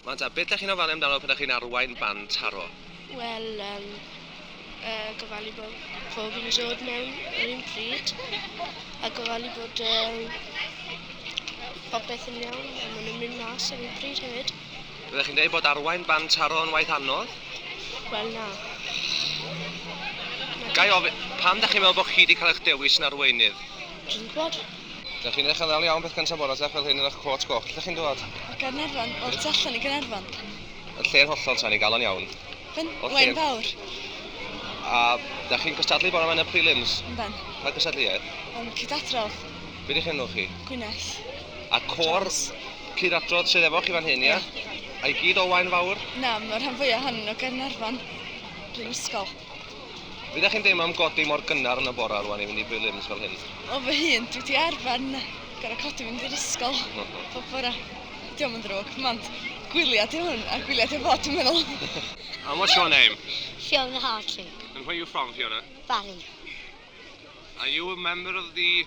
Wan ta, beth dach chi'n ofalu amdano pan dach chi'n arwain band taro? Wel, um, uh, gofalu bod pob yn dod mewn yr un pryd, a gofalu bod um, popeth yn iawn, a maen nhw'n mynd mas ar un pryd hefyd. Byddech chi'n dweud bod arwain band taro yn waith anodd? Wel, na. Gai ofyn, pam dach chi'n meddwl bod chi wedi cael eich dewis yn arweinydd? Dwi'n gwybod. Dych chi'n eich ymwneud iawn beth gyntaf bore te fel hyn yn eich côt goch. Lle chi'n dod? O Gaernarfon, o'r tu allan i Gaernarfon. Yn lle'n hollol tan i galon iawn. Yn Wen Fawr. A dych chi'n cystadlu bore yma yn y prelims? Yn ben. Pa gystadleuaeth? Yn cydadrodd. Be di'ch enw chi? Gwyneth. A cor cydadrodd sydd efo chi fan hyn, ia? Ie. A i gyd o Waen Fawr? Na, mae'r rhan fwyaf ohonyn nhw o Gaernarfon. Bryn Ysgol. Be dach chi'n deimlo am godi mor gynnar yn y bora rwan i fynd i prelims fel hyn? O fy hun, dwi di arfer na, gorau codi fynd i'r ysgol pob bora. Diolch yn ddrwg, mond gwyliau di hwn, a gwyliau di o fod dwi'n meddwl. And what's your name? Fiona Hartley. And where are you from, Fiona? Barry. Are you a member of the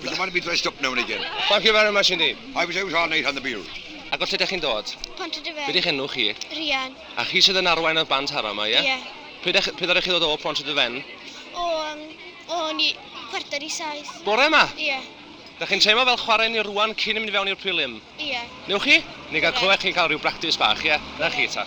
Would you mind me dressed up now and again? Thank you very much indeed. I was out all night on the bill. Ac o lle ydych chi'n dod? Pont y Dyfed. Be di'ch enw chi? Rhian. A chi sydd yn arwain y band hara yma, ie? Ie. Pryd ech- pryd ydych chi ddod o Pont y Dyfen? O, um, o, ni, chwarter i saith. Bore yma? Ie. Da chi'n teimlo fel chwarae ni rwan cyn mynd i fewn i'r prelim? Ie. Newch chi? Ni gael clywed chi'n cael rhyw bractis bach, ie? Na chi, ta.